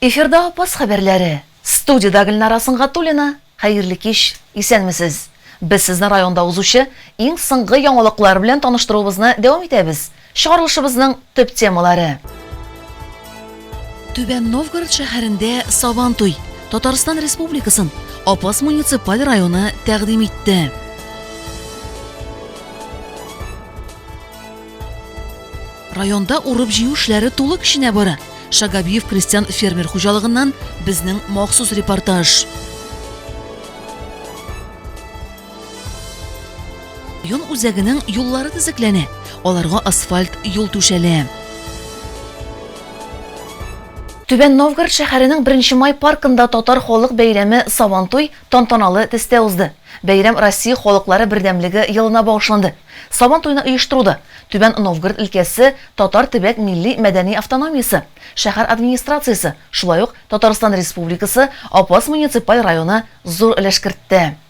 Эфирда Апас хәбәрләре. Студиядә Гөлнара Сынгатуллина. Хәерле кич. Исәнмесез. Без сезне районда узучы иң соңгы яңалыклар белән таныштыруыбызны дәвам итәбез. Чыгарылышыбызның төп темалары. Түбән Новгород шәһәрендә Сабантуй Татарстан Республикасын Апас муниципаль районы тәкъдим итте. Районда урып җыю эшләре тулы көченә бара. Шагабиев крестьян фермер хуҗалыгыннан безнең махсус репортаж. Район үзәгенең юллары төзекләнә, аларга асфальт юл түшәлә. Түбән Новгород шәһәренең Беренче май паркында татар халык бәйрәме Сабантуй тантаналы төстә узды. Бәйрәм Россия халыклары бердәмлеге елына багышланды. Сабантуйны оештыруда, Түбән Новгород өлкәсе татар төбәк милли-мәдәни автономиясе, шәһәр администрациясе, шулай ук Татарстан Республикасы Апас муниципаль районы зур өлеш кертте.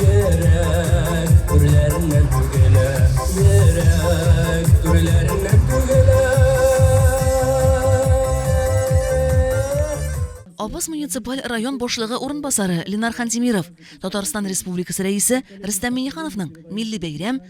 Йөрәк түрләреннән түгелә. Йөрәк түрләреннән түгелә. Абыз муниципаль район башлыгы урынбасары Ленар Хантимиров, Татарстан Республикасы Рәисе Рөстәм Миңнехановның Милли бәйрәм,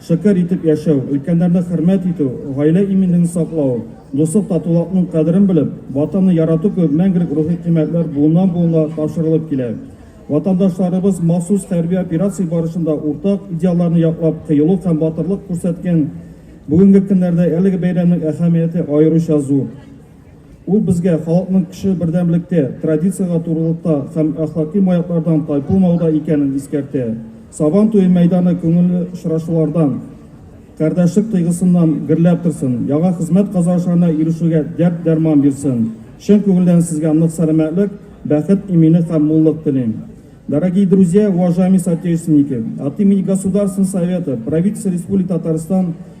Шөкер итеп яшәү, өлкәннәрне хөрмәт итү, гаилә иминлеген саклау, дуслык, татулакның кадерен белеп, Ватанны ярату кебек мәңгелек рухи кыйммәтләр буыннан-буынга тапшырылып килә. Ватандашларыбыз махсус хәрби операция барышында уртак идеалларны яклап кыюлык һәм батырлык күрсәткән бүгенге көннәрдә әлеге бәйрәмнең әһәмияте аеруча зур. Ул безгә халыкның көче бердәмлектә, традициягә турылыкта һәм әхлаки маяклардан тайпылмауда икәнен искәртә. Сабан туе мәйданы күңелле очрашулардан, кардәшлек тойгысыннан гөрләп торсын, яңа хезмәт казанышларына ирешүгә дәрт-дәрман бирсен. Чын күңелдән сезгә нык сәламәтлек, бәхет, иминлек һәм муллык телим. Дорогие друзья, уважаемые соотечественники, от имени Государственного совета, правительства Республики Татарстан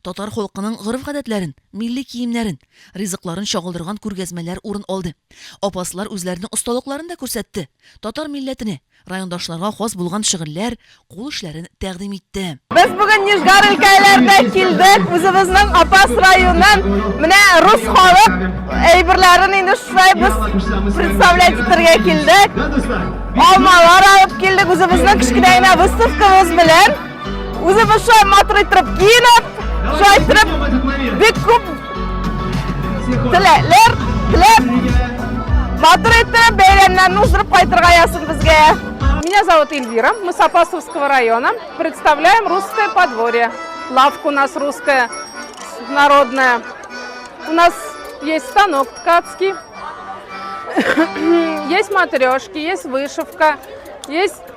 Татар халкының гореф-гадәтләрен, милли киемнәрен, ризыкларын чагылдырган күргәзмәләр урын алды. Апаслар үзләренең осталыкларын да күрсәтте, татар милләтенә, райондашларга хас булган шөгыльләр, кул эшләрен тәкъдим итте. Без бүген Нижгар өлкәләренә килдек, үзебезнең Апас районын, менә рус халык әйберләрен инде шулай без представлять итәргә килдек. Алмалар алып килдек, үзебезнең кечкенә генә выставкабыз белән. Үзе баша матур итеп киенеп, шулай итеп бик күп теләкләр теләп, матур итеп бәйрәмнәрне уздырып кайтырга язсын безгә. Меня зовут Эльвира, мы с Апасовского района, представляем русское подворье. Лавка у нас русская, народная. У нас есть станок ткацкий, есть матрешки, есть вышивка, есть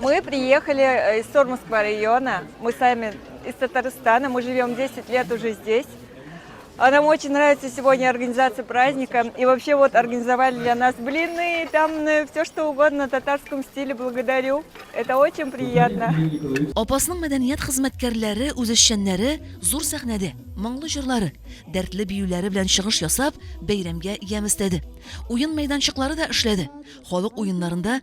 Мы приехали э, из Сормовского района. Мы сами из Татарстана. Мы живем 10 лет уже здесь. А нам очень нравится сегодня организация праздника. И вообще вот организовали для нас блины, там э, все что угодно на татарском стиле. Благодарю. Это очень приятно. Апасның мәдәният хезмәткәрләре, үзешчәннәре зур сәхнәдә моңлы җырлары, дәртле биюләре белән чыгыш ясап, бәйрәмгә ямь өстәде. Уен мәйданчыклары да эшләде. Халык уеннарында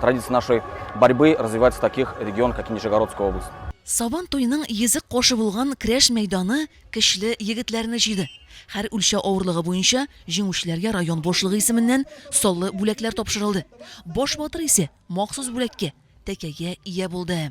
Традиция нашей борьбы развивается в таких регионах, как Нижегородская область. Сабан туеның йөзек кошы булган крәш мәйданы көчле егетләрне җыйды. Хәр үлчә авырлыгы буенча җиңүчеләргә район башлыгы исеменнән саллы бүләкләр тапшырылды. Баш батыр исе махсус бүләккә, тәкәгә ия булды.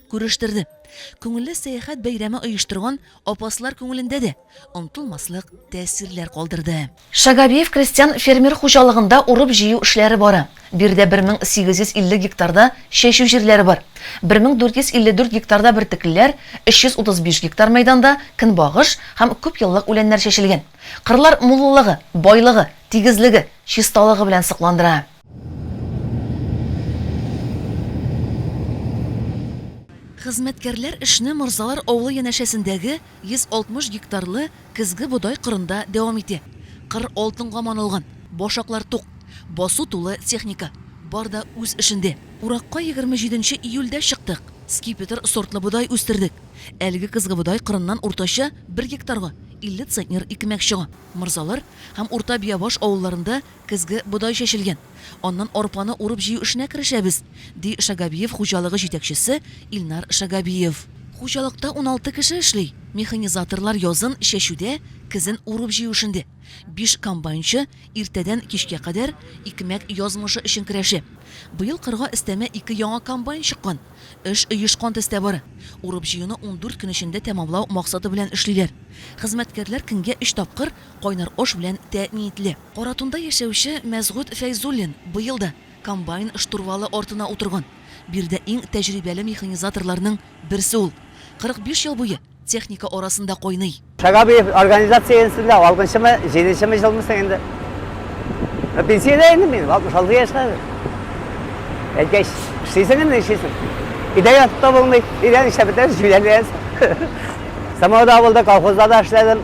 Күрештерде. Күңелле сәяхәт бәйрәме оештырган апаслар күңелендә дә онтылмаслык тәэсирләр калдырды. Шагабиев крестьян-фермер хуҗалыгында урып-җыю эшләре бара. Биредә 1850 гектарда чәчү җирләре бар. 1454 гектарда бөртеклеләр, 335 гектар мәйданда көнбагыш һәм күпьеллык үләннәр чәчелгән. Кырлар муллыгы, байлыгы, тигезлеге, чисталыгы белән сокландыра. Хезмәткәрләр эшне Морзалар авылы янәшәсендәге 160 гектарлы көзге бодай кырында дәвам итә. Кыр алтынга манылган, башаклар тук, басу тулы техника. Бар да үз эшендә. Уракка егерме җиденче июльдә чыктык. Скипетр сортлы бодай үстердек. Әлеге көзге бодай кырыннан уртача бер гектарга 50 центнер икмәк чыга. Морзалар һәм Урта Биябаш авылларында Көзге бодай чәчелгән. Аннан арпаны урып-җыю эшенә керешәбез, ди Шагабиев хуҗалыгы җитәкчесе Илнар Шагабиев. Хуҗалыкта уналты кеше эшли. Механизаторлар язын чәчүдә, көзен урып-җыю эшендә. Биш комбайнчы иртәдән кичкә кадәр икмәк язмышы өчен көрәшә. Быел кырга өстәмә ике яңа комбайн чыккан. Эш оешкан төстә бара. Урып-җыюны ундүрт көн эчендә тәмамлау максаты белән эшлиләр. Хезмәткәрләр көнгә өч тапкыр кайнар аш белән тәэмин ителә. Каратунда яшәүче Мәсгут Фәйзуллин быел да комбайн штурвалы артына утырган. Биредә иң тәҗрибәле механизаторларның берсе ул. 45 ел буе техника арасында кайный. Шагабиев организация янсында алгынчымы, җиденчеме җылмы соң инде. Пенсиядә инде мин, 66 яшьтә хәзер. Әйткәч, эшлисең инде, нишлисең. Өйдә ятып та булмый, өйдә нишләп бетәр, җүләрләнсең. Самода авылда, колхозда да эшләдем.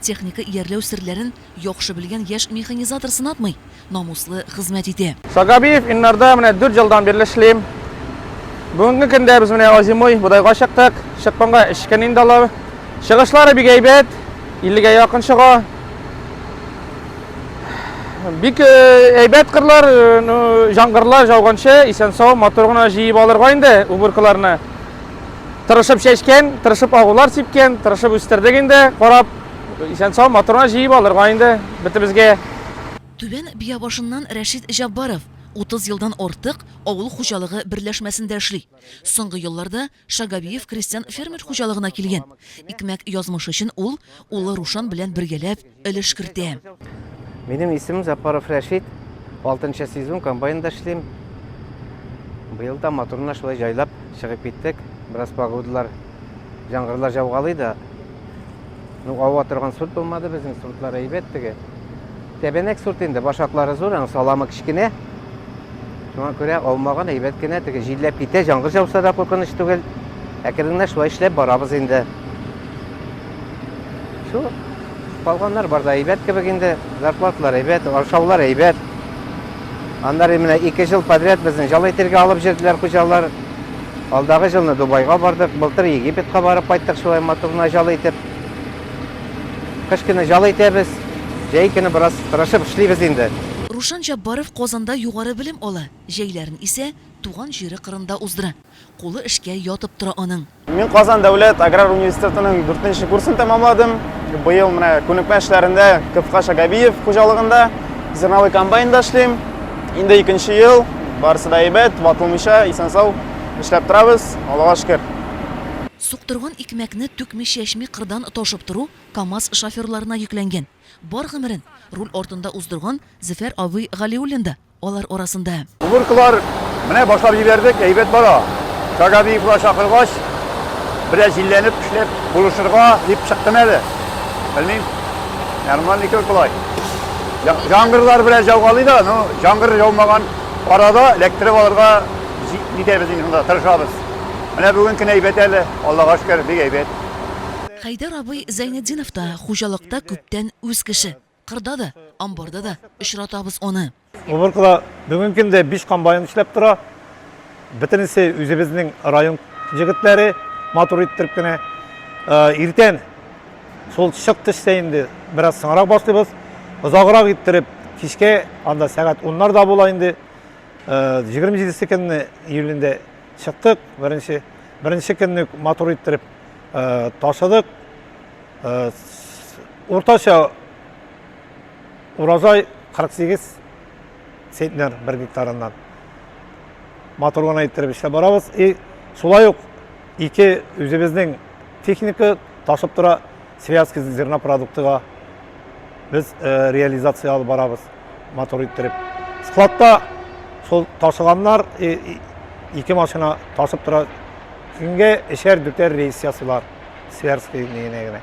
Техника иярләү серләрен яхшы белгән яшь механизатор сынатмый, намуслы хезмәт итә. Сагабиев Иннарда менә дүрт елдан бирле эшлим. Бүгенге көндә без менә озимой бодайга чыктык. Чыкканга өч көн инде алар. Чыгышлары бик әйбәт, 50-гә якын чыга. Бик әйбәт кырлар, җангырлар жауганчы, исән-сау, матур гына җыеп алырга инде уборкаларны. Тырышып чәчкән, тырышып агулар сипкән, тырышып үстердек инде, карап, исән-сау матурына җыеп алырга инде бетебезгә. Түбән Биябашыннан Рәшит Җаббаров 30 елдан артык авыл хуҗалыгы берләшмәсендә эшли. Соңгы елларда Шагавиев крестьян-фермер хуҗалыгына килгән. Икмәк язмышы өчен ул, улы Рушан белән бергәләп, өлеш кертә. Минем исемем Запаров Рәшит. Алтынчы сезон комбайнда эшлим. Быел да моторына шулай җайлап чыгып киттек. Бераз погодалар, яңгырлар жаугалый да. Ну, ава торган сорт булмады безнең, сортлар әйбәт теге. Тәбәнәк сорт инде, башаклары зур, аның саламы кечкенә. Шуңа күрә алмаган әйбәт кенә, теге җилләп китә, җаңгыр жауса да куркыныч түгел. Әкрен генә шулай эшләп барабыз инде. Шул калганнар бар да әйбәт кебек инде, зарплаталар әйбәт, ашаулар әйбәт. Аннары менә ике жыл подряд безне җал әйтергә алып җөрделәр хуҗалар. Алдагы җылны Дубайга бардык, былтыр Египетка барып кайттык шулай матурына җал әйтеп. Кыш көне җал әйтәбез, җәй көне бераз тырышып эшлибез инде. Рушан Җаббаров Казанда югары белем ала, җәйләрен исә туган җире кырында уздыра. Кулы эшкә ятып тора аның. Мин Казан дәүләт аграр университетының дүртенче курсын тәмамладым. Быел менә күнекмә эшләрендә Кыпкаш Агабиев хуҗалыгында зерновой комбайнда эшлим. Инде икенче ел, барысы да әйбәт, ватылмыйча, исән-сау эшләп торабыз, Аллага шөкер. Суктырган икмәкне түкми-чәчми кырдан ташып тору КАМАЗ шоферларына йөкләнгән. Бар гомерен руль артында уздырган Зөфәр абый Галиуллин да алар арасында. Уборкалар менә башлап җибәрдек, әйбәт бара. Шагабиевлар чакыргач, бераз җилләнеп эшләп булышырга дип чыктым әле. Белмим, ярымнан никер болай. Җаңгырлар бераз җаугалый да, ну, җаңгыр җаумаган арада эләктереп алырга җитәбез инде, шунда тырышабыз. Менә бүген көн әйбәт әле, Аллага шөкер, бик әйбәт. Хәйдәр абый Зәйнетдинов та хуҗалыкта күптән үз кеше. Кырда да, амбарда да очратабыз аны. Уборкада бүген көндә биш комбайн эшләп тора. Бөтенесе үзебезнең район җегетләре, матур иттереп кенә. Иртән шул чык төшсә инде, бераз соңрак башлыйбыз. Озаграк иттереп, кичкә анда сәгать уннар да була инде. Җигерме җидесе көнне июлендә Чыктык, беренче, беренче көнне матур иттереп э, ташыдык. Э, уртача урожай 48 центнер бер гектарыннан. Матур гына иттереп эшләп барабыз. И шулай ук ике үзебезнең техника ташып тора Связка зерна продуктыга без э, реализация алып барабыз мотор иттереп. Складта сол ташыганнар э, ике машина ташып тора. Көнгә эшәр дүтәр рейс ясыйлар. Связка генә генә.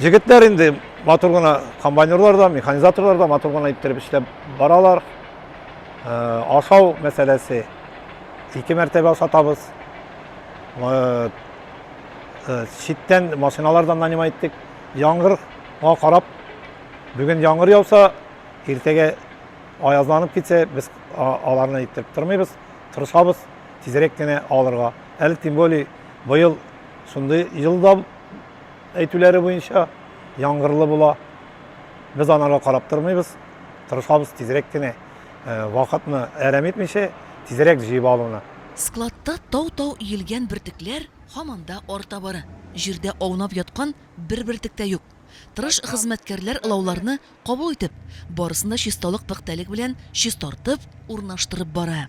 Җегетләр инде матур гына комбайнерлар да, механизаторлар да матур гына иттереп эшләп баралар. Э, ашау мәсьәләсе ике мәртәбә ашатабыз. Э, э, читтән машиналардан нанимай иттек. Яңгырга карап, бүген яңгыр яуса, иртәгә аязнанып китсә, без аларны иттереп тормыйбыз, тырышабыз тизрәк кенә алырга. Әле тем более быел шундый елда әйтүләре буенча яңгырлы була. Без анарга карап тормыйбыз, тырышабыз тизрәк кенә Вакытны әрәм итмичә, тизрәк җыеп алуны. Складта тау-тау иелгән бөртекләр һаман да арта бара. Җирдә аунап яткан бер бөртек тә юк. Тырыш хезмәткәрләр лауларны кабул итеп, барысын да чисталык-пөхтәлек белән чистартып, урнаштырып бара.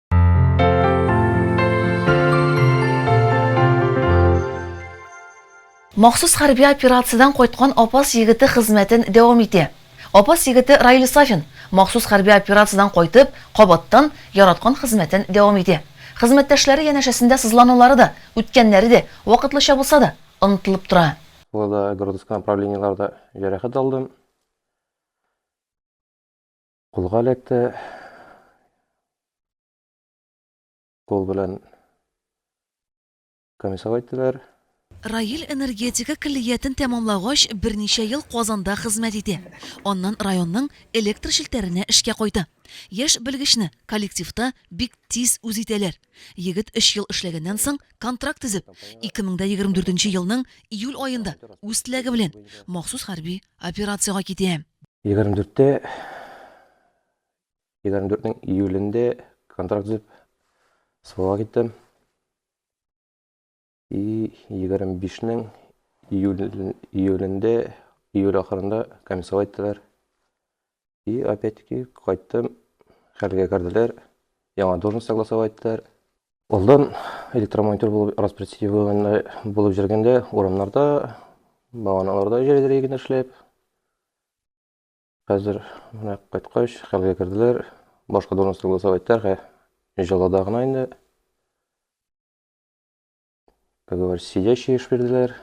Махсус хәрби операциядән кайткан Апас егете хезмәтен дәвам итә. Апас егете Раил Сафин махсус хәрби операциядән кайтып, кабаттан яраткан хезмәтен дәвам итә. Хезмәттәшләре янәшәсендә сызланулары да, үткәннәре дә, вакытлыча булса да, онытылып тора. Тылда, Гродыскы направлениеларда җәрәхәт алдым. Кулга эләкте. Кул белән комиссар әйттеләр. Раил энергетика көллиятен тәмамлагач, берничә ел Казанда хезмәт итә. Аннан районның электр челтәренә эшкә кайта. Яшь белгечне коллективта бик тиз үз итәләр. Егет өч ел эшләгәннән соң, контракт төзеп, 2024 елның июль аенда үз теләге белән махсус хәрби Операциягә китәм. Егерме дүрттә, егерме дүртнең июлендә контракт төзеп, СВОга киттем. И егерме бишнең июлендә, июль ахырында комиссовать иттеләр. И опять-таки кайттым, хәлгә керделәр, яңа должность согласовать иттеләр. Алдан электромонтер булып распределение булып җөргәндә, урамнарда, баганаларда җәлдерәй генә эшләп, хәзер менә кайткач, хәлгә керделәр, башка должность согласовать иттеләр, җылыда гына инде. Как говорится, сидящие эшбирделәр.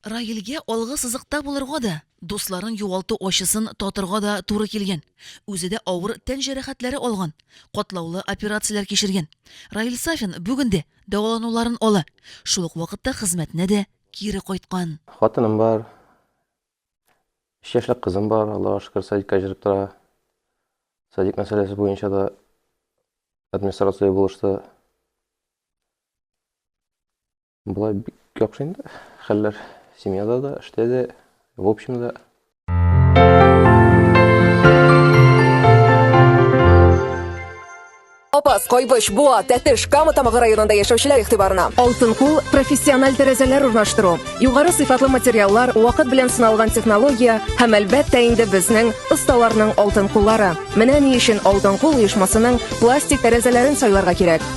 Раилгә алгы сызыкта булырга да, дусларын югалту ачысын татырга да туры килгән. Үзе дә авыр тән җәрәхәтләре алган, катлаулы операцияләр кичергән. Раил Сафин бүген дә дәвалануларын ала, шул ук вакытта хезмәтенә дә кире кайткан. Хатыным бар. Өч яшьлек кызым бар, Аллага шөкер, садикка җырып тора. Садик мәсьәләсе буенча да администрация булышты. Болай бик яхшы инде. Хәлләр семьяда да, эштә дә, в общем да. Апас, Кайбыч, Буа, Тәтеш, Кама Тамагы районында яшәүчеләр игътибарына. Алтын кул профессиональ тәрәзәләр урнаштыру, югары сыйфатлы материаллар, вакыт белән сыналган технология һәм әлбәттә инде безнең осталарның алтын куллары. Менә ни өчен Алтын кул оешмасының пластик тәрәзәләрен сайларга кирәк.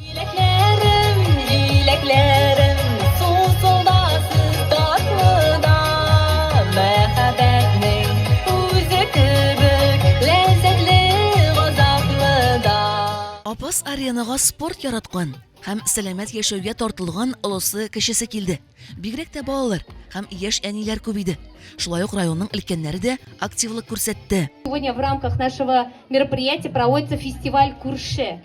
Җиләкләрем, җиләкләрем, сусылдасыз татлы да, мәхәббәтнең үзе кебек ләззәтле газаплы да. Апас аренага спорт яраткан һәм сәламәт яшәүгә тартылган олысы-кечесе килде. Бигрәк тә балалар һәм яшь әниләр күп иде. Шулай ук районның өлкәннәре дә активлык күрсәтте. Сегодня в рамках нашего мероприятия проводится фестиваль Күрше.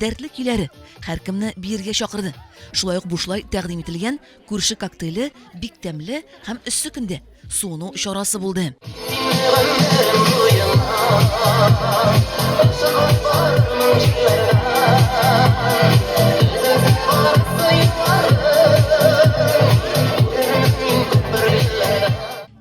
Дәртле көйләре һәркемне биергә чакырды. Шулай ук бушлай тәкъдим ителгән күрше коктейле бик тәмле һәм эссе көндә суыну чарасы булды.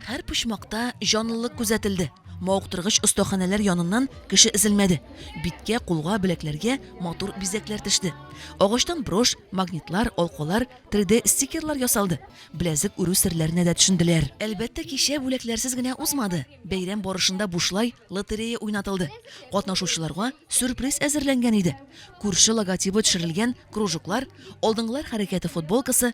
Һәр почмакта җанлылык күзәтелде. Мауктыргыч остаханәләр яныннан кеше эзелмәде. Биткә, кулга, беләкләргә матур бизәкләр төште. Агачтан брош, магнитлар, алкалар, 3D стикерлар ясалды. Беләзек үрү серләренә дә төшенделәр. Әлбәттә, кичә бүләкләрсез генә узмады. Бәйрәм барышында бушлай лотерея уйнатылды. Катнашучыларга сюрприз әзерләнгән иде. Күрше логотибы төшерелгән кружоклар, алдынгылар хәрәкәте футболкасы,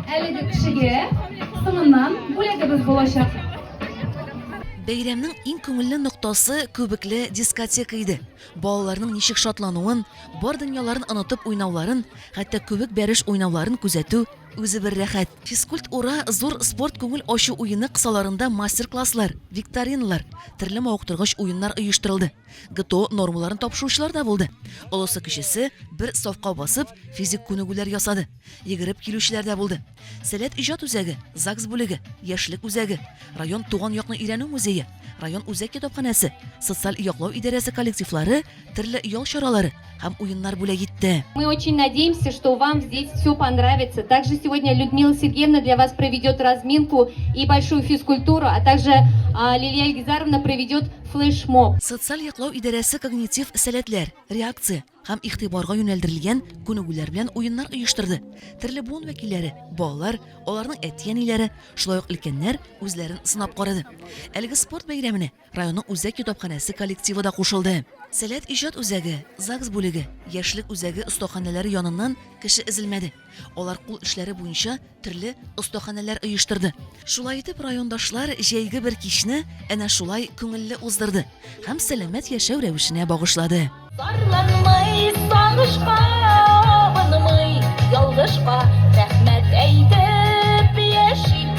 Әлеге кешегә соңыннан бүләгебез булачак. Бәйрәмнең иң күңелле ноктасы күбекле дискотека иде. Балаларның ничек шатлануын, бар дөньяларын онытып уйнауларын, хәтта күбек бәреш уйнауларын күзәтү үзе бер рәхәт. Физкульт ура зур спорт күңел ачу уены кысаларында мастер-класслар, викториналар, төрле мавыктыргыч уеннар оештырылды. ГТО нормаларын тапшыручылар да булды. Олысы-кечесе бер сафка басып, физик күнегүләр ясады. Йөгереп килүчеләр дә булды. Сәләт иҗат үзәге, ЗАГС бүлеге, Яшьлек үзәге, район Туган якны өйрәнү музее, район үзәк китапханәсе, социаль яклау идарәсе коллективлары төрле ял чаралары һәм уеннар бүләк итте. Мы очень надеемся, что вам здесь все понравится. Также сегодня Людмила Сергеевна для вас проведет разминку и большую физкультуру, а также а, Лилия Ильгизаровна проведет флешмоб. Социаль яклау идарәсе когнитив сәләтләр, реакция, һәм игътибарга юнәлдерелгән күнегүләр белән уеннар оештырды. Төрле буын вәкилләре, балалар, аларның әти-әниләре, шулай ук өлкәннәр үзләрен сынап карады. Әлеге спорт бәйрәменә районның үзәк китапханәсе коллективы да кушылды. Сәләт иҗат үзәге, ЗАГС бүлеге, Яшьлек үзәге остаханәләре яныннан кеше өзелмәде. Алар кул эшләре буенча төрле остаханәләр оештырды. Шулай итеп, райондашлар җәйге бер кичне әнә шулай күңелле уздырды һәм сәламәт яшәү рәвешенә багышлады. Зарланмый, сагышка абынмый, ялгышка рәхмәт әйтеп яши.